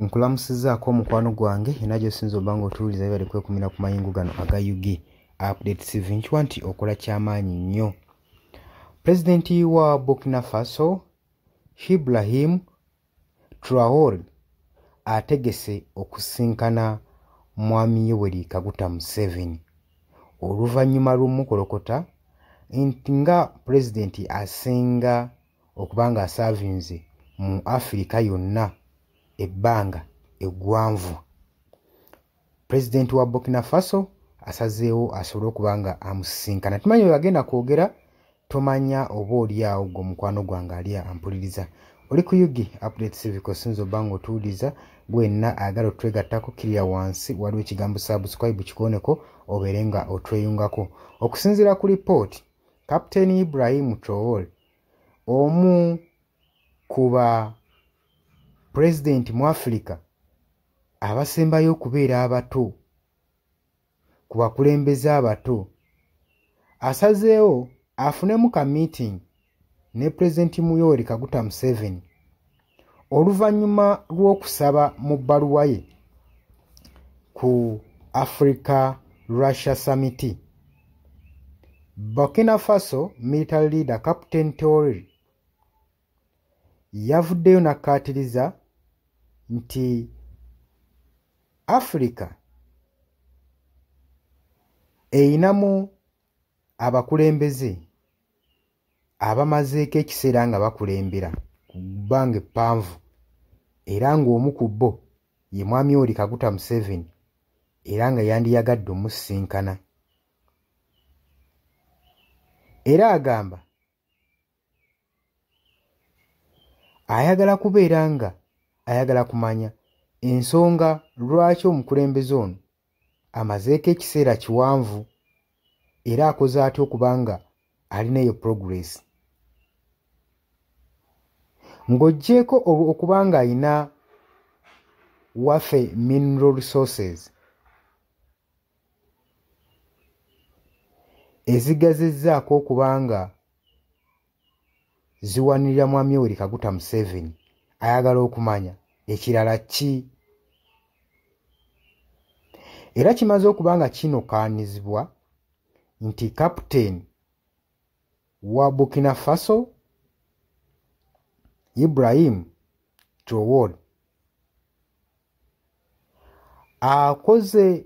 nkulamusizaako omukwano gwange yena gyosinza oba nga otuwuliza bibale kwekumira ku mayingo gano aga ug update tv nkiwa nti okola kyamaanyi nnyo pulezidenti wa burkina faso hibrahim traor ategese okusinkana mwami yoweri kaguta museveni oluvannyuma lw'omukolokota nti nga pulezidenti asinga okuba nga asaavinze mu afirika yonna ebbanga eggwanvu pulezidenti wa burkina faso asazeewo asobole okuba nga amusisinkana tumanyi webagenda kwogera tomanya oba oliawo gwe omukwano gwange ali ampuliriza oli ku yugi update civic osinza oba nga otuwuliriza gwenna ayagala otwegattako kirira wansi waliwo ekigambo subscribe kikoneko obeere nga otweyungako okusinziira ku lipooti Captain Ibrahim Traore omu ku ba pulezidenti mu Afirika abasembayo okubeera abato ku bakulembeze abato asazeewo afunemu ka meeting ne pulezidenti Yoweri Kaguta Museveni oluvannyuma lw'okusaba mu bbaluwa ye ku africa russia samiti burkina faso military leader captain tori yavuddeyo n'akkaatiriza nti africa eyinamu abakulembeze abamazeeko ekiseera nga bakulembera ku bbanga eppanvu era ng'omu ku bo ye mwami oli kaguta museveni era nga yandiyagadde omusisinkana era agamba ayagala kubeera nga ayagala kumanya ensonga lwaki omukulembeze ono amazeeko ekiseera kiwanvu era akoze atya okuba nga alina eyo progress ng'oggyeeko okuba ng'alina wafe mineral resources ezigazizzaako okuba nga ziwanirira mwami oweri kaguta museveni ayagala okumanya ekirala ki era kimaze okuba nga kinokaanizibwa nti kaputeni wa burkina faso ibrahim trowod akoze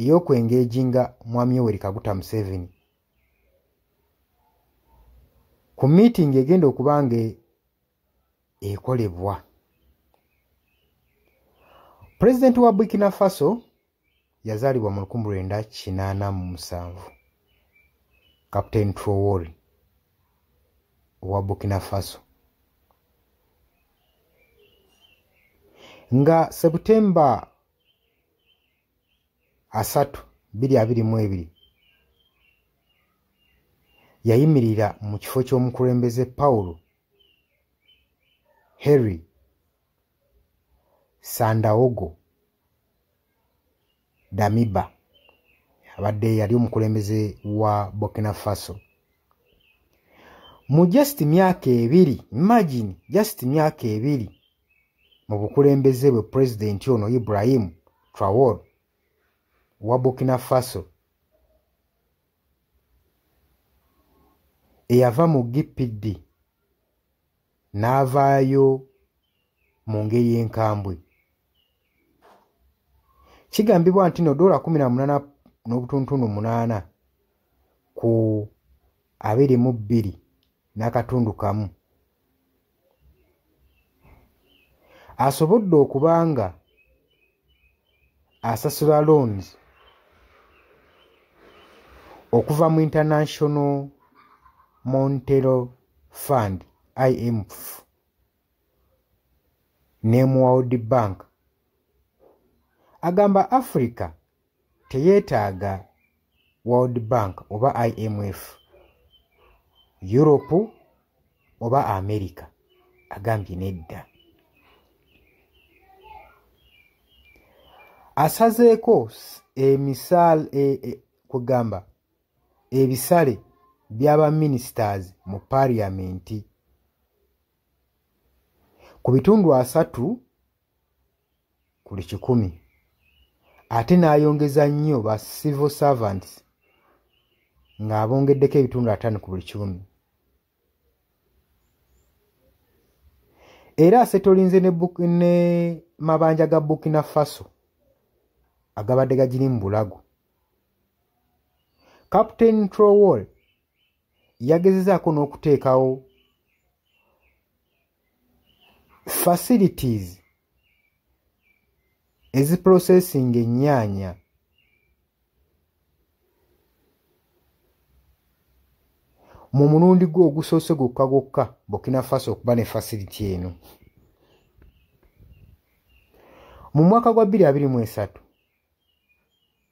ey'okwengeejinga Mwami Yoweri Kaguta Museveni ku miitingi egenda okuba nga ekolebwa pulezidenti wa burkina faso yazaalibwa mu lukumu lwenda kinaana mu musanvu captain trowori owa burkina faso nga september asatu biri abiri mu ebiri yayimirira mu kifo ky'omukulembeze pawulo harry sandaogo damiba abadde yali omukulembeze wa burkina faso mu just myaka ebiri imagine just myaka ebiri mu bukulembeze bwe pulezidenti ono ibrahim trawor wa burkina faso eyava mu gpd n'avaayo mu ngeri enkambwe kigambibwa nti no dola 18 n'obutuntunu 8 ku 22 n'akatundu kamu asobodde okuba nga asasula loans okuva mu international montero fund imf ne mu world bank agamba africa teyeetaaga world bank oba imf europe oba america agambye nedda asazeeko emisal e, e, kugamba ebisale by'abaministers mu paliamenti ku bitundu asatu kuli kikumi ate n'ayongeza nnyo ba civil servants ng'abongeddeko ebitundu ataano ku buli kikumi era asetolinze ne, ne mabanja ga burkina faso agabadde gagiri mu bulago captain trowall yagezezaako n'okuteekawo facilities eziprocessinga ennyaanya mu mulundi gwe ogusoose gwokka gwokka burkina faso okuba ne facility eno mu mwaka gwa 223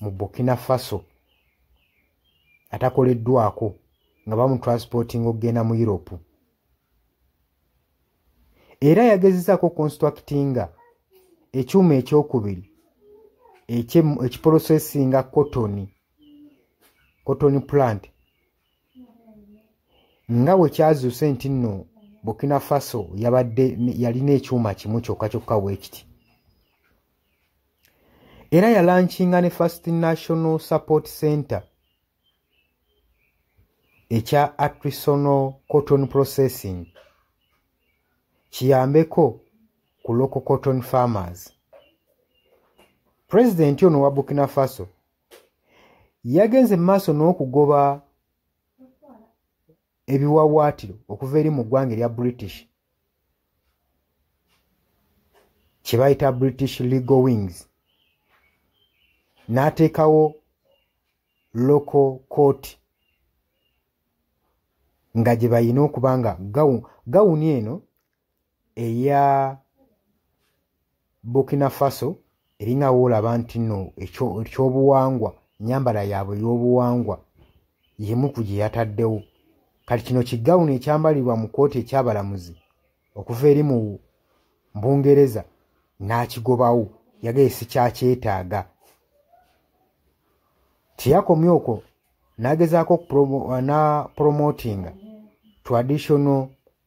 mu burkina faso atakoleddwako nga bamutransportinga okugenda mu europe era yagezezaako constructinga ekyuma ekyokubiri ekiporosesinga kotoni kotoni plant nga bwe kyazuuse nti nno burkina faso yabadde yalina ekyuma kimu kyokka kyokka weekiti era yalankinga ne first national support center ekya artisanal cotton processing kiyambeko ku local cotton farmers pulezidenti ono wa burkina faso yagenze mu maaso n'okugoba ebiwawaatiro okuva eri mu ggwanga erya british kye bayita british legal wings n'ateekawo local court nga gye balina okuba nga gawuni eno eya burkina faso eringa woolaba nti no ekyobuwangwa enyambala yaabwe ey'obuwangwa yemu ku gye yataddewo kati kino kigawuni ekyambalirwa mu kkooti ekyabalamuzi okuva eri mu mbungereza n'akigobawo yagaye sikyakyetaaga teyakomye okwo n'agezaako na promotinga traditional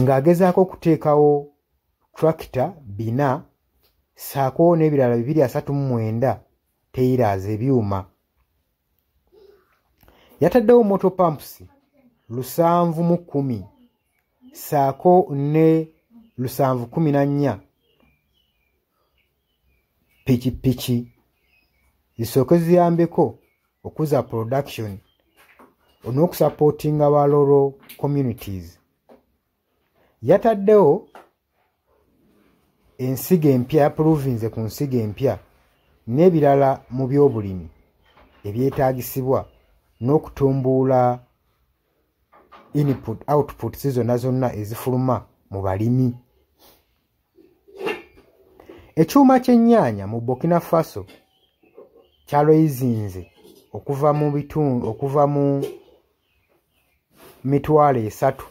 ng'agezaako okuteekawo tractor bina saako n'ebirala bibiri asatu mu mwenda teyiraaza ebyuma yataddewo moto pumps lusanvu mu kkumi saako ne lusanvu kumi na nnya pikipiki zisooke ziyambeko okuza production on'okusapootinga ba loro communities yataddewo ensigo empya yapuluvinze ku nsigo empya n'ebirala mu byobulimi ebyetaagisibwa n'okutumbuula input outputs zonna zonna ezifuluma mu balimi ekyuma ky'ennyaanya mu burkina faso kyalweyizinze okuva mu bitundu okuva mu mitwalo esatu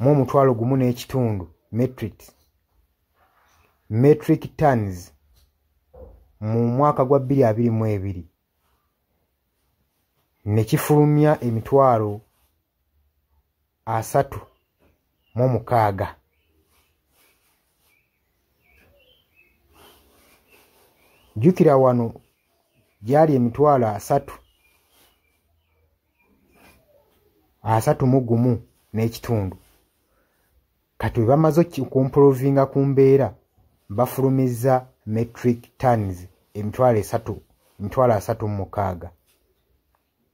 mu omutwalo gumu n'ekitundu metric metric tons mu mwaka gwa bbiri abiri mu ebiri ne kifulumya emitwalo asatu mu mukaaga jjukira wano gyali emitwalo asatu asatu mu gumu n'ekitundu kati bwe bamaze okumpolovinga ku mbeera bafulumizza metric tons emitwalo esatu emitwalo asatu mu mukaaga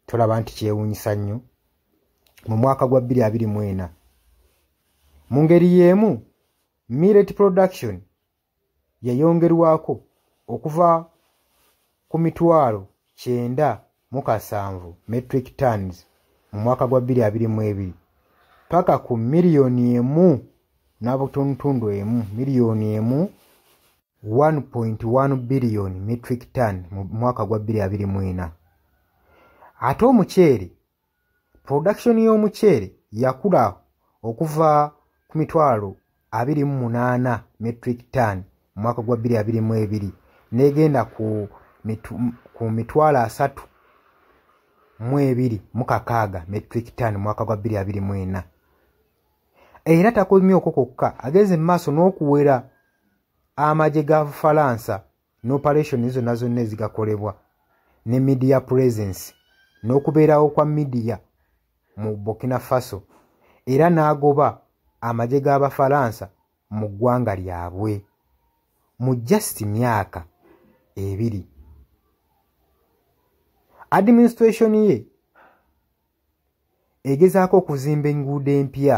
tolaba nti kyewuunyisa nnyo mu mwaka gwa 224 mu ngeri y'emu millet production yayongerwako okuva ku mitwalo kyenda mu kasanvu metric tons mu mwaka gwa 222 paka ku miliyoni emu n'abutuntundu emu miliyoni emu 1.1 billion metric ton mu mwaka gwa 2024 ate omuceere production y'omuceere yakula okuva ku mitwalo 28 metric ton mu mwaka gwa 2022 n'egenda ku ku mitwalo asatu mu ebiri mu kakaaga metric ton mu mwaka gwa 2024 era takomye okwo kwokka ageze mu maaso n'okuwera amagye ga bufalansa n'operation zonna zonna ezigakolebwa ne media presence n'okubeerawo kwa media mu burkina faso era n'agoba amagye g'abafalansa mu ggwanga lyabwe mu just myaka ebiri administration ye egezaako okuzimba enguudo empya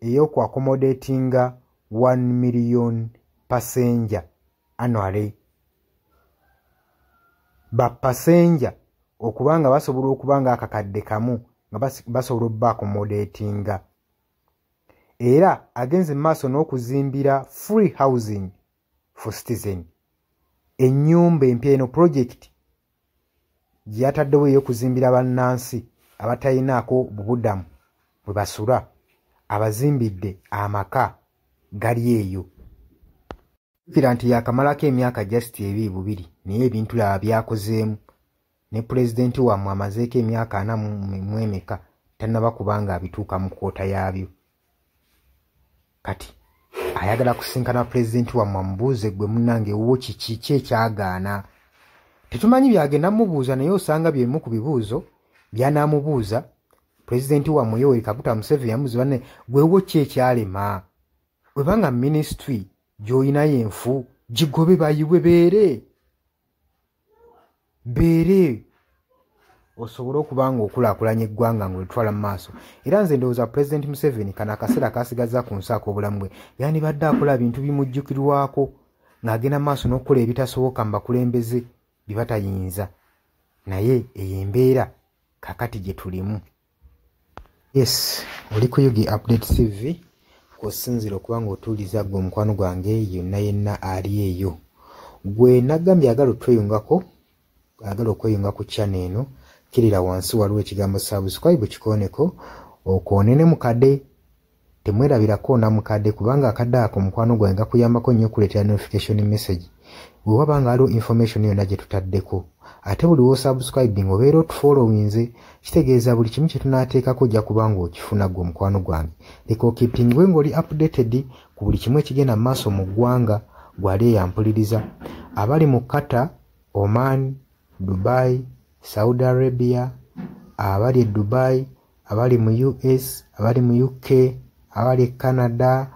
eyoku accommodatinga 1 million passenger annually ba passenger okuba nga basobola okuba nga akakadde kamu nga basobola obba accommodatinga era agenze mu maaso n'okuzimbira free housing for citizen ennyumba empya eno pulojekiti gye yataddewo ey'okuzimbira bannansi abatalinaako bubudamu bwe basula abazimbidde amaka gali eyo kira nti yakamalako emyaka just ebiri bubiri naye ebintu laba byakozeemu ne pulezidenti wammwe amazeeko emyaka ana mwemeka tannaba kubanga abituuka mu kwota yaabyo kati ayagala kusinkana pulezidenti wammwe amubuuze gwe munange wo kiki ki ekyagaana tetumanyi byagenda mubuuza naye osanga byemu ku bibuuzo byanaamubuuza pulezidenti wammwe yoweri kaguta museveni yamuzi banne gwewo ki ekyalema webanga minisitule gy'olinayo enfu gigobe bayiwe beere mbeere osobole okuba nga okulakulanya eggwanga nga olitwala mu maaso era nze ndowooza pulezidenti museveni kano akaseera kasigazza ku nsi ak'obulamu bwe yandibadde akola bintu bimujjukirwako ng'agenda maaso n'okukola ebitasoboka mu bakulembeze bye batayinza naye eyo embeera kakati gye tulimu yes oli ku yugi update tv kwosinzira okuba nga otuuliza gwe omukwano gwange yonna yenna ali eyo gwe nagambye agala otweyungako agala okweyunga ku chana eno kirira wansi waliwo ekigambo subscribe kikoneko okwonene mukade temwerabirako namukadde kubanga akadde ako mukwano gwange gakuyambako nnyo okuleetera notification message bwe waba nga waliwo information yonna gye tutaddeko ate buli wosubscribing obeera otufollowinze kitegeeza buli kimu kye tunaateekako ojja kubanga okifuna gwe omukwano gwange leka okipingwe ng'oli updated ku buli kimu ekigenda mu maaso mu ggwanga gwali eyampuliriza abali mu kata oman dubai saudi arabia abali e dubai abali mu us abali mu uk abali e canada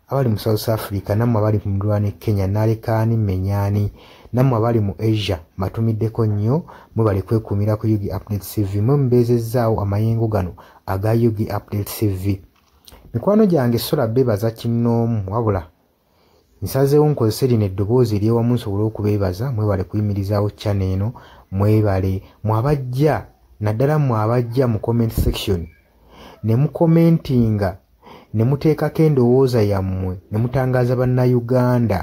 abali mu south africa nammwe abali mu ndwana e kenya nalekaani menyani nammwe abali mu asia mbatumiddeko nnyo mwebali kwekuumira ku ug update cv mwe mubeezezzaawo amayengo gano aga ug update cv mikwano gyange sula bebaza kinnoomu wabula nsazeewo nkozese lino eddoboozi eryewamu nsobole okubeebaza mwebale kuyimirizaawo chana eno mwebale mwabajja naddala mwe abajja mu comment section ne mukomentinga ne muteekako endowooza yammwe ne mutangaaza bannayuganda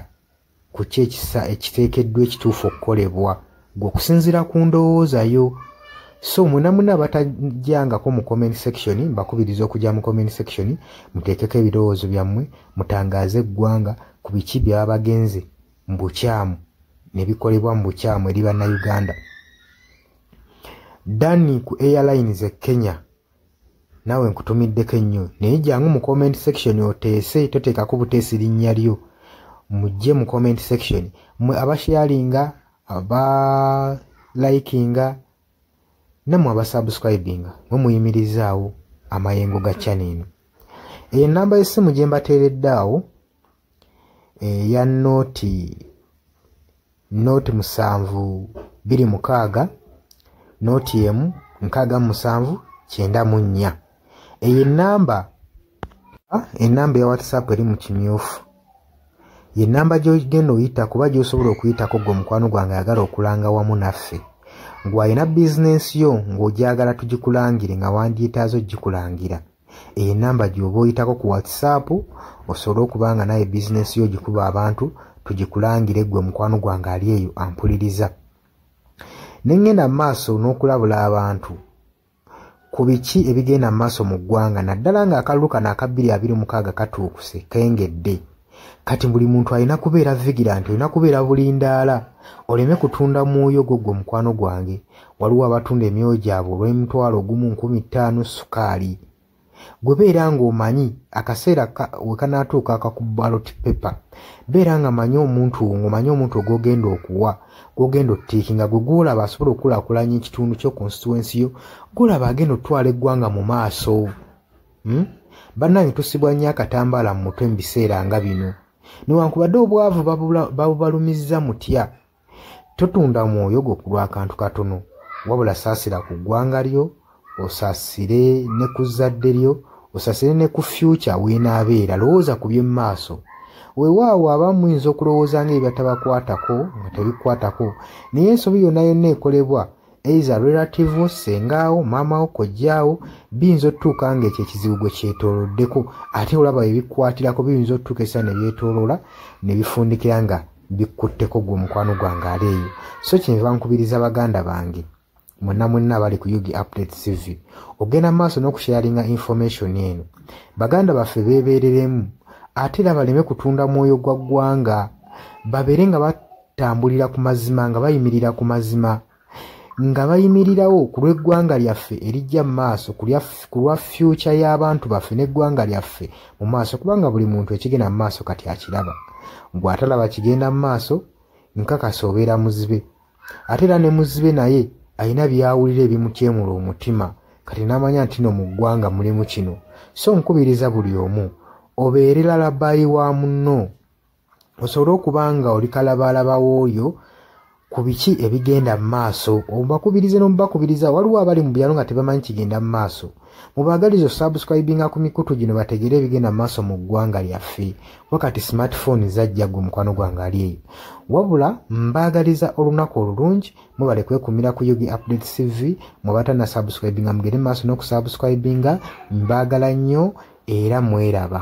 ku ki ekisa ekiteekeddwa ekituufu okukolebwa gwe okusinziira ku ndowooza yo so mwena muna abatajangako mu comment section mbakubiriza okujja mu comment section muteekeko ebirowoozo byammwe mutangaaze eggwanga ku biki byaba bagenze mu bukyamu ne bikolebwa mu bukyamu eri bannayuganda dani ku airlines e kenya naawe nkutumiddeko ennyo naye jangu mu comment section oteese toteekako buteesi linnya lyo mujje mu comment section mwe abasharinga aba likinga namwe abasubscribinga mwe muyimirizaawo amayengo ga channel eno enamba y'essimu gye mbateeredde awo eya eh, nooti nooti musanvu biri mukaaga nooti emu nkaaga mu musanvu kyenda mu nnya eyo enamba enamba ya whatsapp eri mu kimyufu ye namba gyogenda oyita kuba gyosobola okuyitako gwe omukwano gwange ayagala okulanga wamu naffe ngwalina bizinensi yo ng'ogyagala tugikulangire nga wandyetaaza okugikulangira eyo enamba gyoba oyitako ku whatsapp osobole okuba nga naye bizinesi yo gikuba abantu tugikulangire gwe mukwano gwange ali eyo ampuliriza nengenda mu maaso n'okulabula abantu ku biki ebigenda mu maaso mu ggwanga naddala ng'akalulu kano akabbiri abiri mukaaga katuukuse kengedde kati buli muntu alina kubeera vigilanti olina kubeera bulindaala oleme kutunda mwoyo gwo gwe mukwano gwange waliwo abatunda emyoyo gyabwe olw'emitwalo ogumu nkumi ttaano sukaali gwe beera ng'omanyi akaseera wekanaatuuka akakubaloti pepa beera nga manyi omuntu wo ng'omanyi omuntu ogwogenda okuwa gwogenda ottiiki nga gwe gwolaba asobola okukulaakulanya ekitundu kyo konsituwensi yo gwolaba agenda okutwala eggwanga mu maaso hmm? bannange tusibwa nnyo akatambaala mu mutwe mu biseera nga bino newankubadde obwavu babubalumizza mutya totunda mwoyo gwo ku lwakantu katono wabula saasira ku ggwanga lyo osasire ne ku zzadde lyo osasire ne ku fyuca weenaabeera lowooza ku by'emu maaso wewaawo abamu muyinza okulowooza nga ebyatabakwatako nga tebikwatako naye ensobi yonna yonna ekolebwa eiza relative wo sengaawo maama wo kojjaawo biyinza otutuuka nga ekyo ekizibu gwe kyetoloddeko ate olaba ebikwatirako biyinza otutuuka esa nebyetoloola nebifundikira nga bikkutteko gwe omukwano gwange ali eyo so kyenva nkubiriza baganda bange mwena mwena abali ku ug update cv ogenda mu maaso n'okusharinga information eno baganda baffe beebereremu ate era baleme kutunda mwoyo gwa ggwanga babeere nga tambulira ku mazima nga bayimirira ku mazima nga bayimirirawo ku lw'eggwanga lyaffe erijja mu maaso ku lwa fyuca y'abantu baffe n'eggwanga lyaffe mu maaso kubanga buli muntu ekigenda mu maaso kati akiraba gw'atalaba kigenda mu maaso nkakasa obeera muzibe ate era ne muzibe naye alina byawulira ebimutyemula omutima kati n'amanya nti no mu ggwanga mulimu kino so nkubiriza buli omu obeere lalabayi wa munno osobole okuba nga oli kalabaalaba w'oyo ku biki ebigenda mu maaso obakubirize n'omubakubiriza waliwo abali mu byalo nga tebamanyi kigenda mu maaso mubaagaliza osubscribinga ku mikutu gino bategere ebigenda mu maaso mu ggwanga lyaffe kuba kati smartphone zajja gwe mukwano gwange ali eyo wabula mbaagaliza olunaku olulungi mwebale kwekumira ku yugi update cv mwebatana subscribinga mugende mu maaso n'okusubscribinga mbaagala nnyo era mweraba